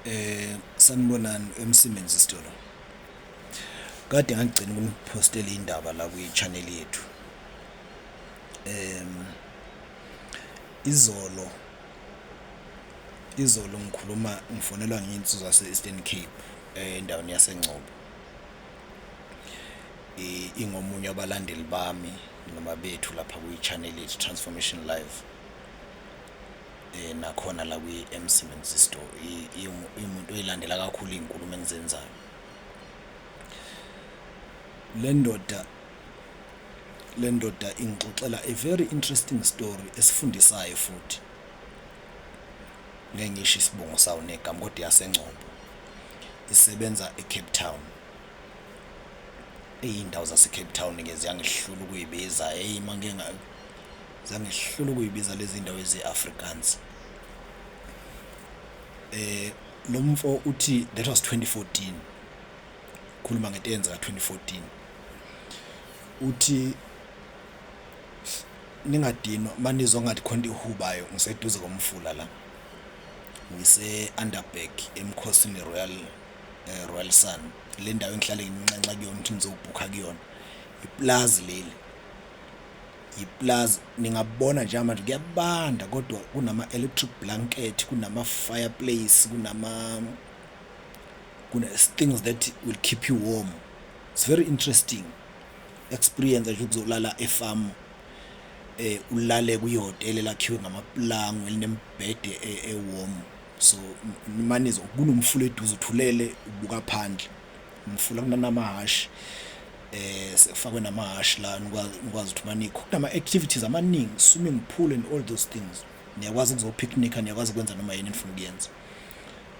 Eh sanibonani emsebenzi sitolo. Kade ngagcina ukunipostela indaba la kwi-channel yethu. Em izolo izolo ngikhuluma ngifonelwa nginsizwa se-Eastern Cape eh, endaweni yaseNgcobo. I- Ingomunye wabalandeli bami noma bethu lapha kwi-channel yethu Transformation Live. nakhona la kwi-Emsiemens Store iwumuntu oyilandela kakhulu iy'nkulumo engizenzayo le ndoda le ndoda ingixoxela a very interesting story esifundisayo futhi ngeke ngisho isibongo sawo negama kodwa yasengcombo isebenza eCape Town iy'ndawo zaseCape Town-ke ziyangihlula ukuyibiza eyi uma zange sihlule ukuyibiza lezi ndawo ezi-afrikaans eh lo mfo uthi that was 2014 khuluma ngento eyenzeka 2014 uthi ningadinwa manizwa ngathi khona ihubayo ngiseduze komfula la ngise underback emkhosini royal eh, royal sun le ndawo engihlale nginxenxa kuyona ukuthi ngizobhukha kuyona iplazi leli Yiplaz ningabona njengamanje kuyabanda kodwa kunama electric blanket kunama fireplace kunama kuna things that will keep you warm it's very interesting experience nje ukuzolala efarm eh ulale kuyihotela elakhiwe ngamaplango elinembhede e-, ewarm so manizo kunomfula eduze uthulele ubuka phandle Umfula kunanamahhashi eh sekufakwe namahhashi la nikwazi nikwazi ukuthi manikho kunama activities amaningi swimming pool and all those things niyakwazi ukuzopicnica niyakwazi ukwenza noma yini enifuna ukuyenza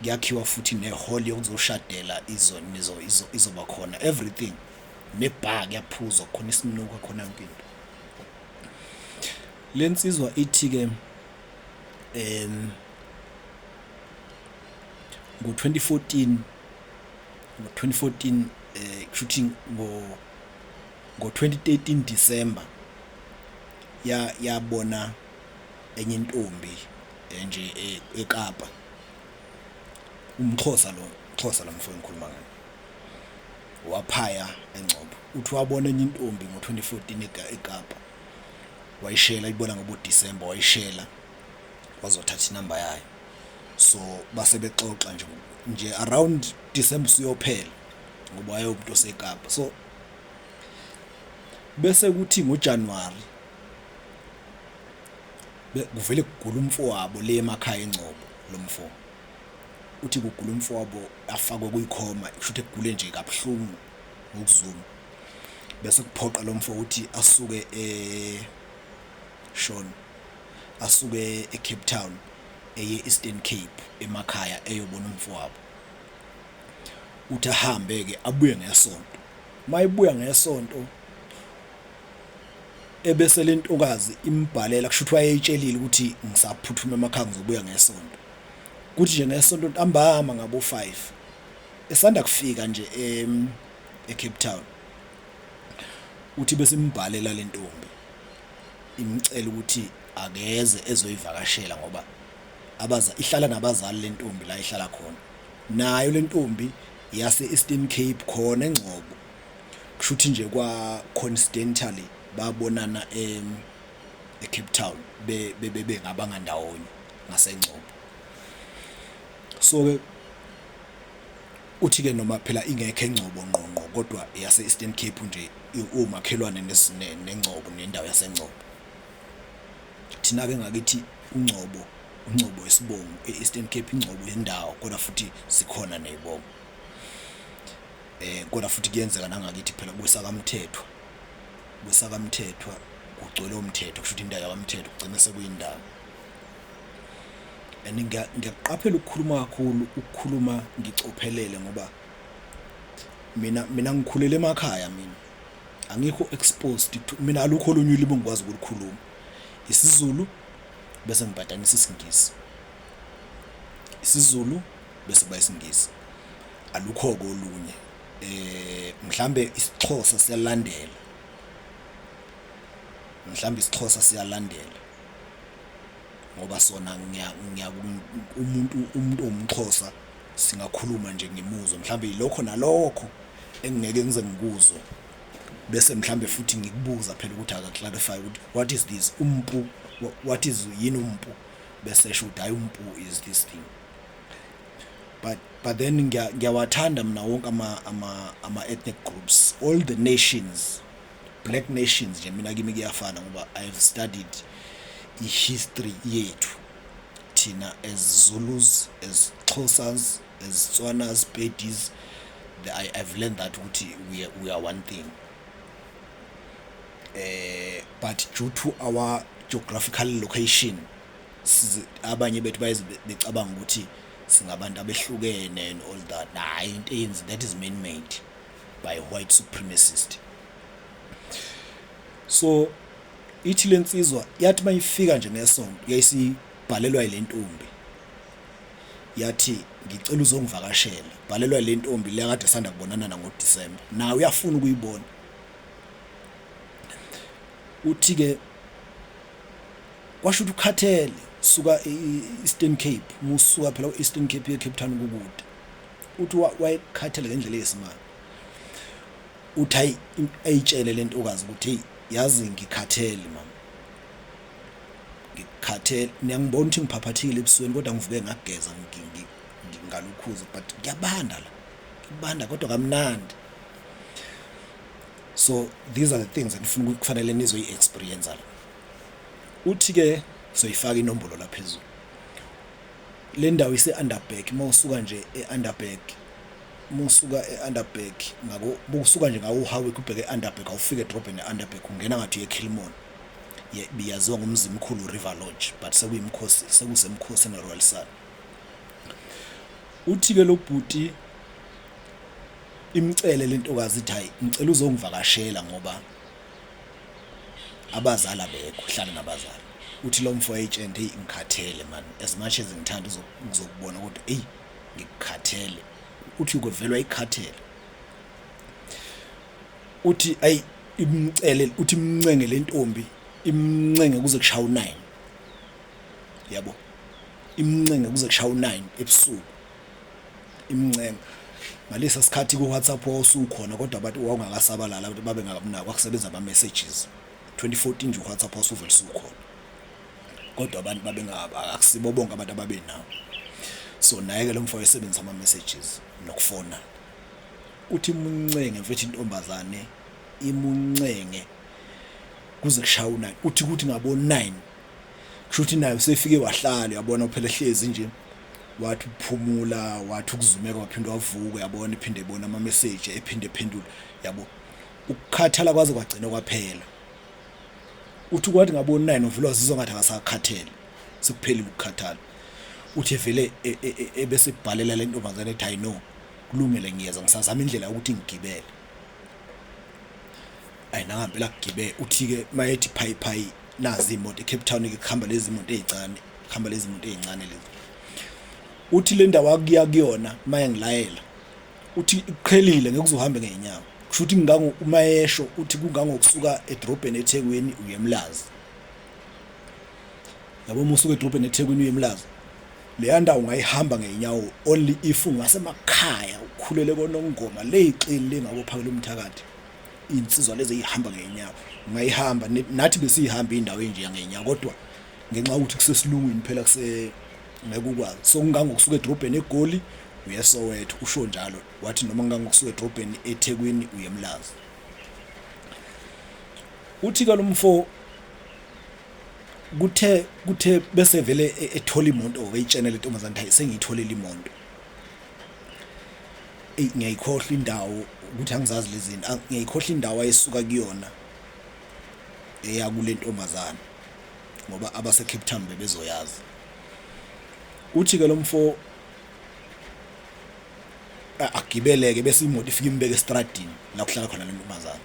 kuyakhiwa futhi nehall yokuzoshadela izo nizo izoba khona everything nebar kuyaphuzwa khona isinuka khona yonke into lensizwa ithi ke em ngo-2014 ngo-2014 eh kushuthi ngo ngo-2013 December ya yabona enye intombi eh, nje eh, eKapa umxhosa lo xhosa lo mfowethu ngikhuluma ngaye waphaya engcobo uthi wabona enye intombi ngo-2014 eKapa wayishela ibona ngobo December wayishela wazothatha inamba yayo so base bexoxa nje nje around December siyophela ngoba wayewumuntu osekapa so bese kuthi ngoJanuary kuvele kugula umfowabo le emakhaya engcobo lomfo uthi kugula umfowabo afakwe kuyikhoma kusho ukuthi kugule nje kabuhlungu ngokuzuma bese kuphoqa lomfo ukuthi asuke eh shona asuke eCape Town eye Eastern Cape emakhaya eyobona umfowabo uthi ahambe ke abuye ngesonto mayibuya ngesonto ebese lentokazi imbhalela kusho ukuthi wayeyitshelile ukuthi ngisaphuthuma emakhaya ngizobuya ngesonto kuthi nje ngesonto ntambama ngabo 5 esanda kufika nje em eCape Town uthi bese imbhalela lentombi Imcele ukuthi akeze ezoyivakashela ngoba abaza ihlala nabazali lentombi la ihlala khona. Nayo lentombi yase Eastern Cape khona eNgcobo. Kushuthi nje kwa coincidentally babonana e eCape Town be bebe ngabanga ndawonye ngaseNgcobo. So ke Uthi ke noma phela ingekho engcobo ngqo ngqo kodwa yase Eastern Cape nje iwumakhelwane nengcobo nendawo yasengcobo. Thina ke ngakithi ungcobo ungcobo isibongo e-Eastern Cape ingcobo yendawo kodwa futhi sikhona nezibongo. Eh kodwa futhi kuyenzeka nangakithi phela kwesakamthethwa. Kwesakamthethwa kugcwele umthetho kusho ukuthi indawo yakamthetho kugcina sekuyindawo. and ngiyakuqaphela ukukhuluma kakhulu ukukhuluma ngicophelele ngoba mina mina ngikhulele emakhaya mina angikho exposed to mina alukho olunye ulimi engikwazi ukulikhuluma isiZulu bese ngipatanisa isiNgisi isiZulu bese kuba isiNgisi alukho kolunye eh mhlambe isiXhosa siyalandela mhlambe isiXhosa siyalandela ngoba sona umuntu umuntu owumxhosa singakhuluma nje ngimuzwe mhlawumbe yilokho nalokho engingeke ngize ngikuzwe bese mhlawumbe futhi ngikubuza phela ukuthi aka-clarify ukuthi what is this umpu what is yini umpu bese esho ukuthi hayi umpu is this thing but but then ngiyawathanda mina wonke ama-ethnic groups all the nations black nations nje mina kimi kuyafana ngoba i have studied i-history yethu thina as zulus as xhosas as tswanas pedis I, i've learned that ukuthi we, we are one thing eh but due to our geographical location abanye bethu bayebecabanga ukuthi singabantu abehlukene and all that hayi into eyenzi that is man made by white supremacist so ithi lensizwa yathi mayifika nje ngesonto yayisibhalelwa ilentombi yathi ngicela uzongivakashela bhalelwa ilentombi le kade sanda kubonana na ngo December nawe uyafuna ukuyibona uthi ke kwasho ukuthi ukhathele suka e-Eastern Cape musuka phela u-Eastern Cape ye-Cape Town kukude uthi wayekhathele ngendlela eyisimanga uthi ayitshele le ntokazi ukuthi heyi yazi ngikhathele mama ngikhathele niyangibona ukuthi ngiphaphathile ebusweni kodwa ngivuke ngageza ngalukhuza but ngiyabanda la ngibanda kodwa kamnandi so these are the things enifuna kufanele nizoyi-experienza la uthi-ke soyifaka inombolo laphezulu Le ndawo ise-Underberg uma usuka nje e-Underberg uma usuka e-Underberg ngako bokusuka nje ngawo uHowick ubheke e-Underberg awufike edrobheni e-Underberg ungena ngathi uye-Kilmon biyaziwa ngomzimkhulu River Lodge but sekuyimkhosi sekusemkhosi ne-Royal Sun uthi-ke lo bhuti imcele lentokazi ithi hayi ngicela uzongivakashela ngoba abazali abekho hlala nabazali uthi lo mfo agent hey ngikhathele man as much as ngithanda uzokubona kodwa hey ngikukhathele uthi ukovelwa ikhathele uthi ay imcele uthi imncenge lentombi imncenge kuze kushaya u9 yabo imncenge kuze kushaya u9 ebusuku imncenga ngalesa sikhathi ku-whatsapp wawusukhona kodwa bathi wawungakasabalala abantu babe ngakunaki kwakusebenza ama-messages 2014 nje u-whatsapp wawusuvele sukhona kodwa abantu babe akusibo bonke abantu ababe nawo so naye-ke lo mfo wayesebenzisa ama-messages nokufona uthi imuncenge mfethu intombazane imuncenge kuze kushaya u-9 uthi kuthi ngabo-9 kusho ukuthi naye usefike wahlala yabona uphela ehlezi nje wathi ukuphumula wathi ukuzumeka waphinde wavuka yabona iphinde ibona ama message ephinde ephendula yabo ukukhathala kwaze kwagcina kwaphela uthi kwathi ngabona naye novula wazizwa ngathi akasakhathele sekuphelile ukukhathala uthi vele e, e, e, ebese ibhalela le ntombazane ethi i know kulungile ngiyeza ngisazama indlela yokuthi ngigibele ayi nangampela kugibe uthi-ke mayethi phayi phayi nazi imoto ecape town-ke kuhamba lezi moto ey'ncane kuhamba lezi moto ey'ncane lezi uthi le ndawo akuya kuyona maye ngilayela uthi iqhelile ngeke uzohambe ngey'nyawo kusho ukuthi ngango uma esho uthi kungangokusuka edrobheni ethekwini uye emlazi yabo uma usuka edrobheni ethekwini uye emlazi leya ndawo ungayihamba ngey'nyawo only if ungasemakhaya ukhulele konongoma ley'xili lengakophakelwa umthakathi iy'nsizwa lezi ey'hamba ngey'nyawo ungayihamba nathi besiyihamba indawo enje yangenyawo kodwa ngenxa yokuthi kusesilungwini phela ngeke ukwazi so kungangokusuka edrobheni egoli uye soweto usho njalo wathi noma ngangokusuka edrobheni ethekwini uye emlazi uthi ke lo mfo kuthe kuthe bese vele e, ethola imoto wayitshena le ntombazane hayi sengiyitholele imoto eyi ngiyayikhohlwa indawo ukuthi angizazi lezi zinto ngiyayikhohlwa indawo ayesuka kuyona eya kule ntombazane ngoba abasecape town bebezoyazi uthi-ke lo mfo agibeleke bese imoto ifike imbeke estradini la kuhlala khona le ntombazane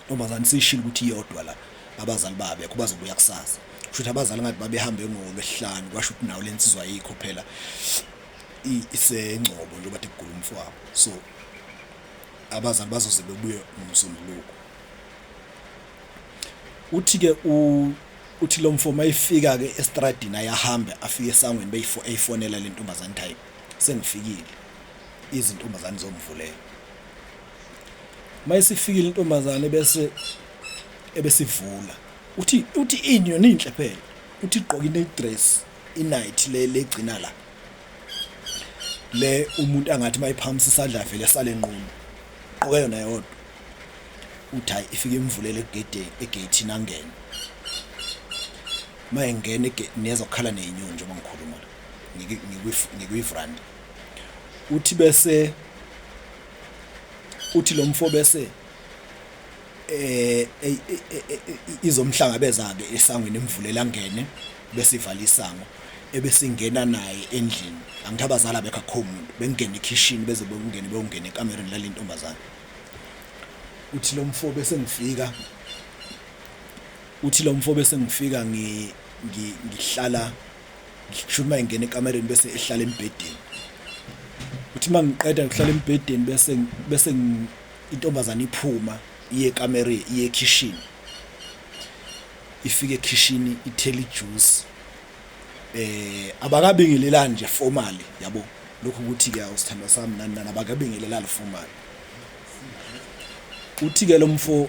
Ntombazane sishilo ukuthi iyodwa la abazali babekho bazobuya kusasa. Kusho ukuthi abazali ngathi babehambe ngolwesihlanu kwasho ukuthi nawo lensizwa ayikho phela isengcobo njengoba de kugula umfowabo. So abazali bazoze bebuye ngomsombuluko. Uthi ke u uthi lo mfo mayifika ke estradini ayahambe afike esangweni beyifo eyifonela lentombazane type sengifikile izintombazane zomvulela uma isifikile intombazane bese ebesivula uthi uthi ini yona inhle phela uthi igqoka ine dress inight le legcina la le umuntu angathi mayiphamisa isandla vele sale nqunu gqoke yona yodwa uthi hayi ifike imvulele egedeni egethini angene uma engena egethini ezokhala neyinyoni njengoba ngikhuluma la ngikuyifranda uthi bese uthi lo mfo bese eh izomhlangabeza ke esangweni emvulela ngene bese ivala isango ebesingena naye endlini angithi abazali abekho akho muntu bengena ekhishini beze bokungena beyongena ekamereni lale ntombazane uthi lo mfo bese ngifika uthi lo mfo bese ngifika ngi ngihlala ngishuma ingena ekamereni bese ehlala embhedeni uthi uma ngiqeda ngihlala embhedeni bese bese intombazane iphuma iye ekamereni iye ekhishini ifike ekhishini ithela ijuice eh abakabingelelani nje formally yabo lokhu ukuthi ke awusithandwa sami nani nani abakabingelelani formally uthi ke lomfo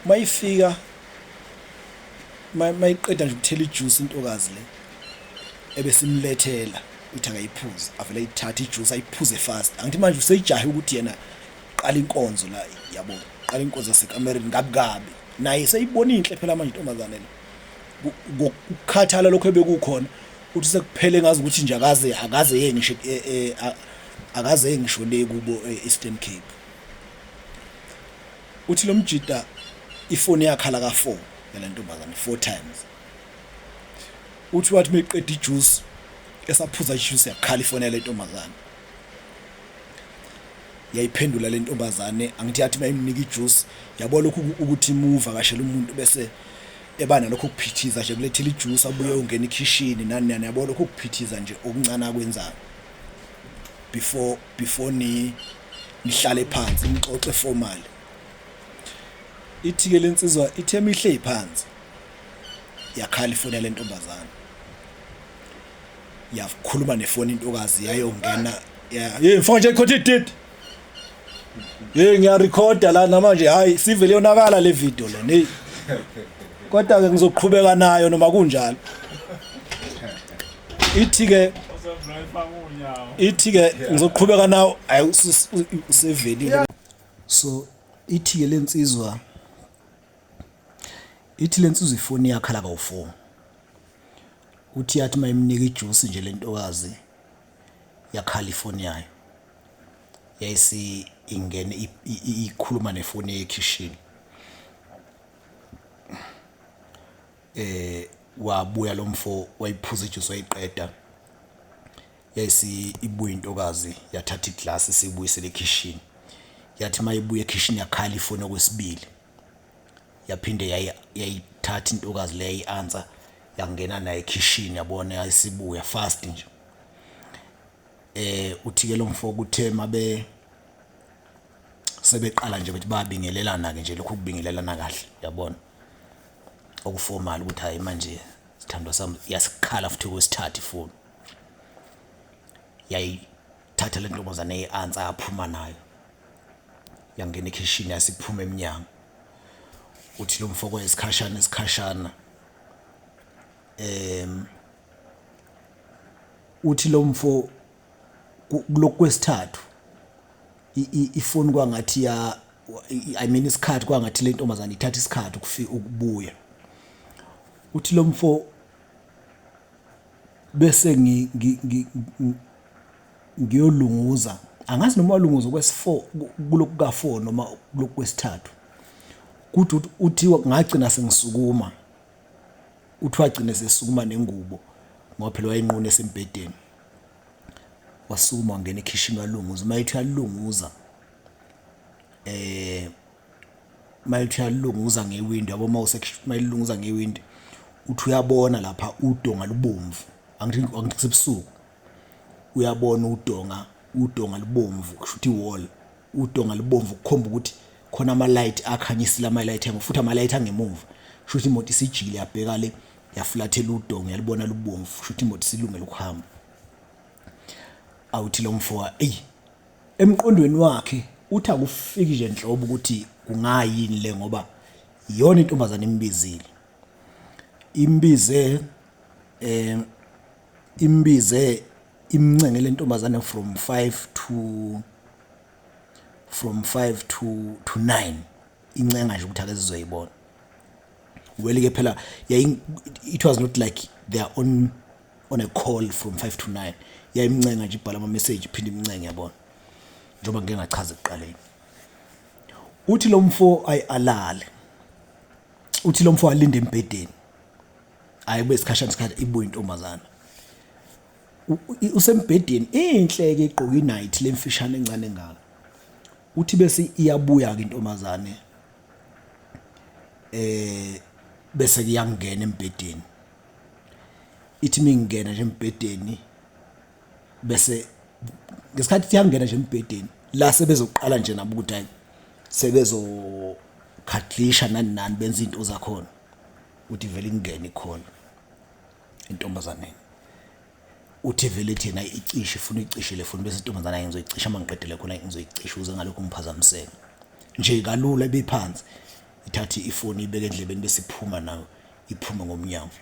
mayifika mayiqeda nje ukuthela ijuice intokazi le ebesimlethela uthi akayiphuze avele ayithathe ijuice ayiphuze fast angithi manje useyijahe ukuthi yena qala inkonzo la yabo qala inkonzo yasekamereni ngabi kabi naye seyibona inhle phela manje intombazane le ukukhathala lokho ebekukhona uthi sekuphele ngazi ukuthi nje akaze akaze yeye ngisho e, e, akaze yeye ngisho le kubo e, Eastern Cape Uthi lomjita ifoni yakhala ka 4 yalentombazane 4 times. Uthi wathi meqeda ijuice esaphuza ijuice yakhala ifoni yalentombazane. Yayiphendula lentombazane angithi yathi mayimnika ijuice yabo lokhu ukuthi muva kashela umuntu bese eba nalokho kuphithiza nje kulethela ijuice abuye ungena ekhishini nani nani yabo lokho kuphithiza nje okuncane akwenzayo. before before ni nihlale phansi nixoxe formal ithike lensizwa ithe mihle iphansi yakhala ifoni yale ntombazana yakhuluma nefoni intokazi yayongena yeah mfana nje khothe ididi Hey ngiyarecorda la namanje hayi sivele yonakala le video le hey kodwa ke ngizoqhubeka nayo noma kunjalo ithi ke ithi ke ngizoqhubeka nawo ayi usevelile so ithi ke lensizwa ithi lensizwa ifoni yakhala kawu4 uthi yathi mayimnika ijuice nje lentokazi yakhala ifoni yayo yayisi ingene ikhuluma nefoni ekhishini eh wabuya lo mfo wayiphuza ijuice wayiqeda yayisi ibuye intokazi yathatha iglass sibuyisele ekhishini yathi mayibuye ekhishini yakhala ifoni okwesibili yaphinde yayithatha intokazi leyo i-answer yangena naye ekhishini yabona yayisibuya fast nje eh uthike lo mfo kuthe mabe sebeqala nje bethi babingelelana ke nje lokhu kubingelelana kahle yabona okuformal ukuthi hayi manje sithandwa sami yasikhala futhi kwesithathu ifoni yayithatha lentombazane eyansa aphuma nayo yangena ekhishini yasiphuma eminyango uthi lo mfoko isikhashana isikhashana em uthi lo mfo kulokhu kwesithathu ifoni kwangathi ya i mean isikhathi kwangathi le ntombazane ithatha isikhathi ukufika ukubuya uthi lo mfo bese ngiyolunguza angazi noma walunguza kwesi-4 kulokhu ka-4 noma kulokhu kwesithathu kuthi uthi ngagcina sengisukuma Kuthiwa agcine sesukuma nengubo ngoba phela wayenqunu esembhedeni. Wasukuma wangena ekhishini walunguza. Uma ethi uyalunguza eh uma ethi uyalunguza ngewindi yabo uma usemayilunguza ngewindi uthi uyabona lapha udonga lubomvu angithi angithi sebusuku uyabona udonga udonga libomvu kushuthi wall udonga libomvu kukhomba ukuthi khona ama light akhanyisile ama light angu futhi ama light angemuva kushuthi imoto isijile yabheka le yafulathela udonga yalibona lubomvu kushuthi imoto silungele ukuhamba awuthi lo mfoka ey emqondweni wakhe uthi akufiki nje nhlobo ukuthi kungayini le ngoba iyona intombazane imbizile imbize eh imbize imncenge le ntombazane from 5 to from 5 to to 9 incenga nje ukuthi ake sizoyibona well ke phela it was not like they are on on a call from 5 to 9 yayimncenga nje ibhala ama message iphinde imncenge yabona njengoba ngike ngachaza ekuqaleni uthi lo mfo ayalale uthi lo mfo alinde embhedeni hayi kube isikhashana isikhathi ibuye intombazana usembhedeni inhle ke igqoke inight lemfishane encane ngaka uthi bese iyabuya ke intombazane eh bese kuyangena embhedeni ithi mingena nje embhedeni bese ngesikhathi siyangena nje embhedeni la sebezoqala nje nabo ukuthi hayi sebezo khadlisha nani nani benza izinto zakhona uthi vele ingene ikhona intombazaneni uthi vele thina icishe ifuna icishe le foni bese intombazana yenza icishe uma ngiqedele khona ngizoyicisha uze ngalokho ngiphazamiseke nje kalula ebiphansi ithathe ifoni ibeke endlebeni bese iphuma nayo iphume ngomnyango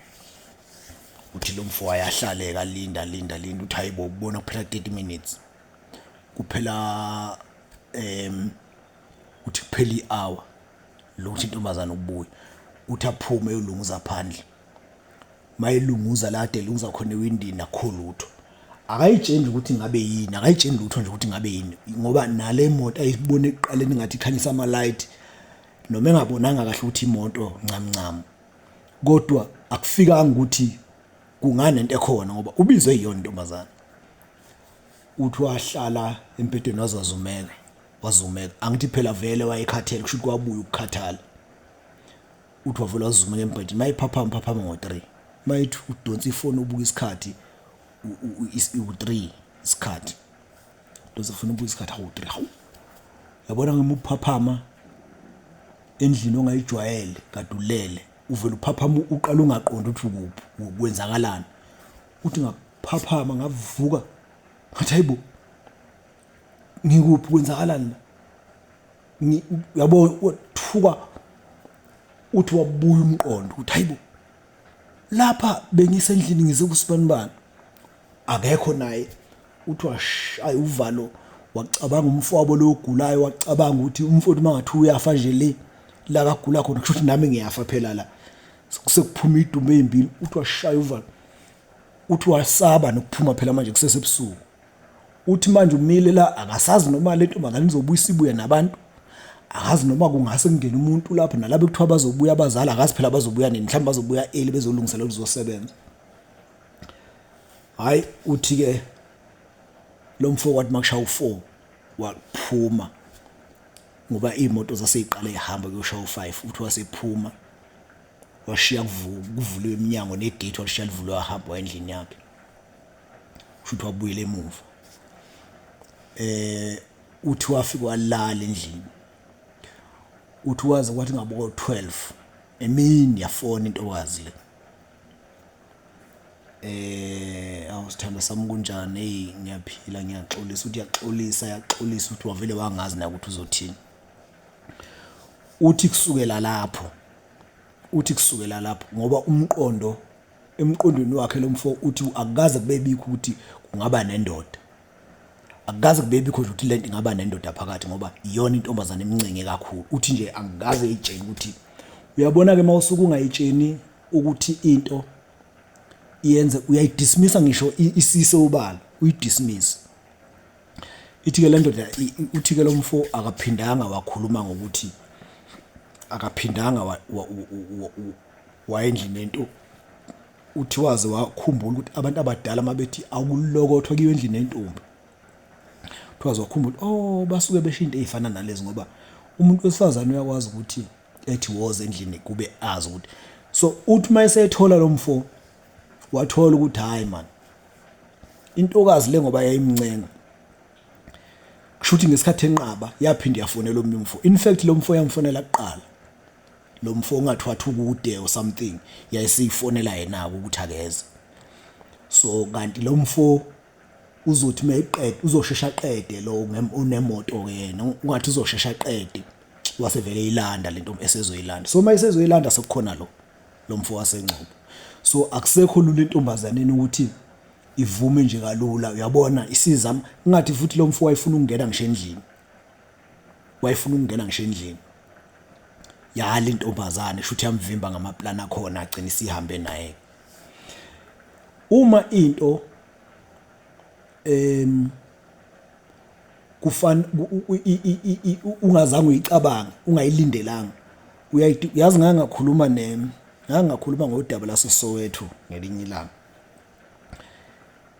uthi lo mfo wayahlale kalinda linda linda uthi hayibo ubona kuphela 30 minutes kuphela em Uthi kuphela i-hour lokuthi intombazane ukubuya uthi aphume eyolunguza phandle mayelunguza la ade lunguza khona ewindini akho lutho akayitsheni ukuthi ngabe yini akayitsheni lutho nje ukuthi ngabe yini ngoba nale moto ayibone eqaleni ngathi ikhanyisa ama light noma engabonanga kahle ukuthi imoto ncam ncam kodwa akufikanga ukuthi kungani into ekhona ngoba ubizwe iyona intombazana uthi wahlala empedweni wazazumeka wazumeka angithi phela vele wayekhathele kusho ukuthi kwabuya ukukhathala uthi wavele wazumeka embhedeni mayephaphama phaphama ngo-3 mayethi udonsa ifoni ubuka isikhathi u-3 isikhathi udonsa ifoni ubuka isikhathi hawu-3 hawu yabona ngimuphaphama endlini ongayijwayele kadulele uvele uphaphama uqala ungaqondi ukuthi ukuphi kwenzakalani uthi ngaphaphama ngavuka ngathi hayibo ngikuphi kwenzakalani la Ngi- yabo wathuka uthi wabuya umqondo ukuthi hayibo lapha bengisendlini ngize kusibanibani akekho naye uthi washaya uvalo wacabanga umfowabo lo ogulayo wacabanga ukuthi umfowethu uma ngathi uyafa nje le la kagula khona kusho ukuthi nami ngiyafa phela la sekuphuma idumbe ezimbili uthi washaya uvalo uthi wasaba nokuphuma phela manje kusesebusuku Uthi manje umile la akasazi noma le ntombazane izobuyisa ibuye nabantu akazi noma kungase kungene umuntu lapho nalabo kuthiwa bazobuya abazali akazi phela bazobuya nini mhlawumbe bazobuya eli bezolungisela ukuzosebenza hayi uthi ke lo mfo kwathi makushaya u4 waphuma ngoba imoto zaseyiqala ihamba kuyoshaya u5 uthi wasephuma washiya kuvuliwe iminyango negate walishiya livulwe wahamba endlini yakhe kusho ukuthi wabuyela emuva eh uthi wafika walala endlini uthi waze kwathi ngabo 12 emini yafona intokazi le eh awusithanda sami kunjani hey ngiyaphila ngiyaxolisa uthi yaxolisa yaxolisa uthi wavele wangazi na ukuthi uzothini uthi kusukela lapho uthi kusukela lapho ngoba umqondo Emqondweni wakhe lo mfo uthi akukaze kube bikho ukuthi kungaba nendoda. Akukaze kube bikho nje ukuthi lento ingaba nendoda phakathi ngoba iyona intombazane emncenge kakhulu. Uthi nje angikaze eyitshele ukuthi uyabona ke mawusuke ungayitsheni ukuthi into yenze uyayidismisa ngisho isise ubala uyidismisa. Ithi ke le ndoda uthi ke lo mfo akaphindanga wakhuluma ngokuthi akaphindanga wayendlini yentu uthi waze wakhumbula ukuthi abantu abadala mabethi awulokothwa kiyo endlini yentombi kuthiwa zokhumbula oh basuke besho into ezifana nalezi ngoba umuntu wesifazane uyakwazi ukuthi ethi woza endlini kube azi ukuthi so uthi uma esethola lo mfo wathola ukuthi hayi man intokazi le ngoba yayimncenga kushuthi ngesikhathi enqaba yaphinde yafonela omunye umfo in fact lo mfo yamfonela kuqala lo mfo ungathi wathi ukude or something yayisiyifonela yena-ke ukuthi akeze so kanti lo mfo uzothi uma eqede uzoshesha aqede lo unemoto-ke yena ungathi uzoshesha aqede wasevele eyilanda le nto esezoyilanda so uma esezoyilanda sekukhona lo lo mfo wasengcobo so akusekho lula entombazaneni ukuthi ivume nje kalula uyabona isizama ngathi futhi lo mfo wayefuna ukungena ngisho endlini wayefuna ukungena ngisho endlini yala intombazane shuthi yamvimba ngamaplan akhona agcina isihambe naye uma into em kufana ungazange uyicabange ungayilindelanga uyayithi yazi ngake ngakhuluma ne ngake ngakhuluma ngodaba laseSoweto ngelinye ilanga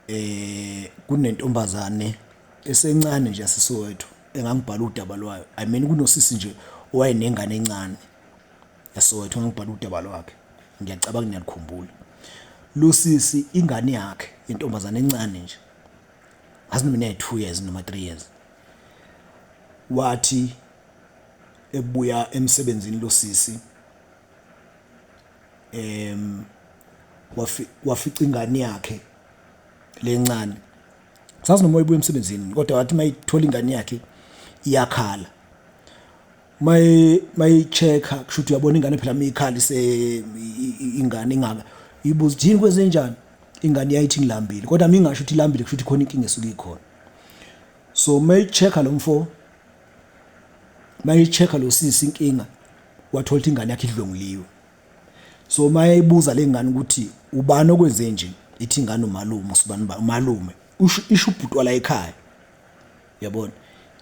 eh kunentombazane esencane nje yaseSoweto engangibhala udaba lwayo i mean kunosisi nje owayenengane encane yaseSoweto engangibhala udaba lwakhe ngiyacabanga ngiyalikhumbula lo sisi ingane yakhe intombazane encane nje ngazi noma ine 2 years noma 3 years wathi ebuya emsebenzini lo sisi em wafi wafica ingane yakhe lencane sazi noma ibuye emsebenzini kodwa wathi mayithola ingane yakhe iyakhala may mayichecka kusho ukuthi uyabona ingane phela miyikhala ise ingane ingaka ibuza yini kwezenjani ingane yayithi ngilambile kodwa mingasho ukuthi ilambile kusho ukuthi khona inkinga esuke ikhona so mayichecka lo mfo mayicheck lo sisi inkinga wathola ukuthi ingane yakhe idlonguliwe so mayeyibuza lengane ukuthi ubani okwenze nje ithi ingane umalume usibani ba umalume isho ubhuti wala ekhaya yabona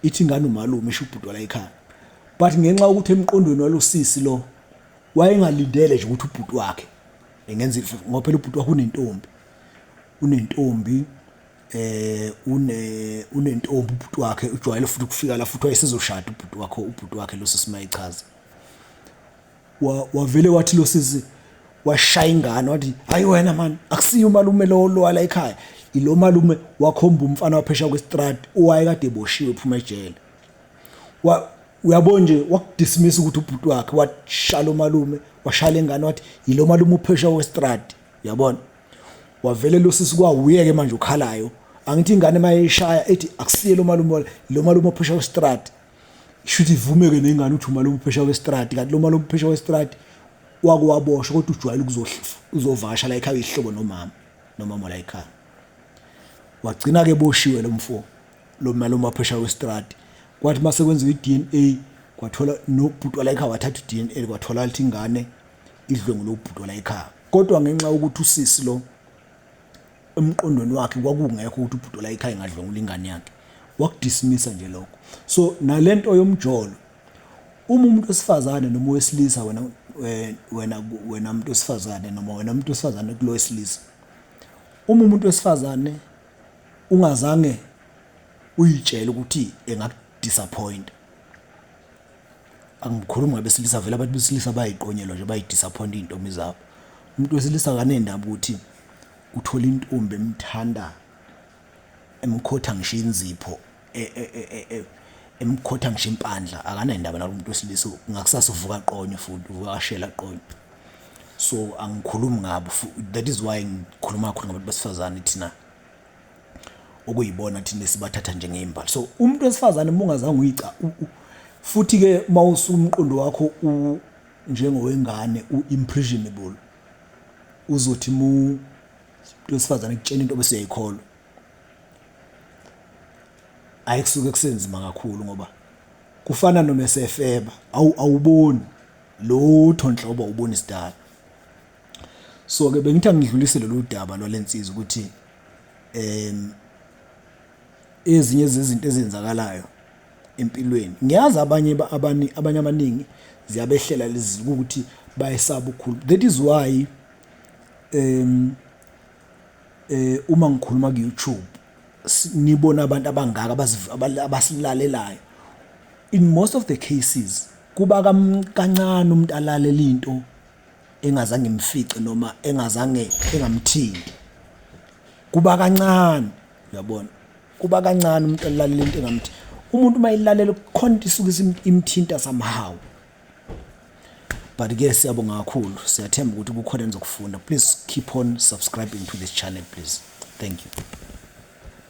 ithi ingane umalume isho ubhuti wala ekhaya but ngenxa ukuthi emqondweni walosisi lo wayengalindele nje ukuthi ubhuti wakhe engenza ngoba phela ubhuti wakhe unentombi unentombi eh une unentombi ubhuti wakhe ujwayele futhi ukufika la futhi wayesezoshada ubhuti wakho ubhuti wakhe lo sisi mayichaza wa wavele wathi lo sisi washaya ingane wathi hayi wena man akusiyo umalume lo lwala ekhaya ilo malume wakhomba umfana waphesha kwestrad owaye kade eboshiwe phuma ejele wa uyabo nje wakudismiss ukuthi ubhuti wakhe washala umalume washala ingane wathi yilo malume uphesha kwestrad uyabona wavele lo sisi kwawuye ke manje ukhalayo angithi ingane mayishaya ethi akusiye lo malume lo malume ophesha westrad shuthi ivume ke nengane uthi umalume ophesha westrad kanti lo malume ophesha westrad wakuwaboshwa kodwa ujwayele ukuzovasha la ekhaya ihlobo nomama nomama la ekhaya wagcina ke boshiwe lo mfo lo malume ophesha westrad kwathi mase kwenziwa iDNA kwathola nobhuti la ekhaya wathatha iDNA kwathola ukuthi ingane idlwengu lobhuti la ekhaya kodwa ngenxa yokuthi usisi lo emqondweni wakhe kwakungekho ukuthi ubhuti la ekhaya engadlwengula ingane yakhe wakudismisa nje lokho so nalento yomjolo uma umuntu wesifazane noma wesilisa wena wena wena umuntu wesifazane noma wena umuntu wesifazane kulo wesilisa uma umuntu wesifazane ungazange uyitshele ukuthi engakudisappoint angikhulumi ngabesilisa vele abantu besilisa bayiqonyelwa nje bayidisappoint iy'ntombi zabo umuntu wesilisa kanendaba ukuthi uthole intombi emthanda emkhotha ngisho inzipho e, e, e, emkhotha ngisho impandla akanendaba nalo muntu wesilisa ngakusasa uvuka qonye futhi uvuka ashela qonye so angikhulumi ngabo that is why ngikhuluma kakhulu ngabantu besifazane thina okuyibona thina esibathatha njengey'mbali so umuntu wesifazane uma ungazange uyica futhi-ke uma usumqondo wakho njengowengane u-imprisionable uzothi mu wesifazane kutshela into bese uyayikholwa ayi kusuke kusenzima kakhulu ngoba kufana noma esefeba awuboni lutho nhlobo ubona isidala so ke bengithi angidlulise lolu daba lwalensizwa ukuthi em ezinye zezinto ezenzakalayo empilweni ngiyazi abanye abani abanye abaningi ziyabehlela lezi ukuthi bayesaba ukukhulu that is why em eh uma ngikhuluma ku YouTube nibona abantu abangaka abasilalelayo in most of the cases kuba kancane umuntu alalela into engazange imfice noma engazange engamthinti kuba kancane uyabona kuba kancane umuntu elalela into engamthi umuntu uma ilalela khona into isuke imthinta somehow but ke siyabonga kakhulu siyathemba ukuthi kukhona enizokufunda please keep on subscribing to this channel please thank you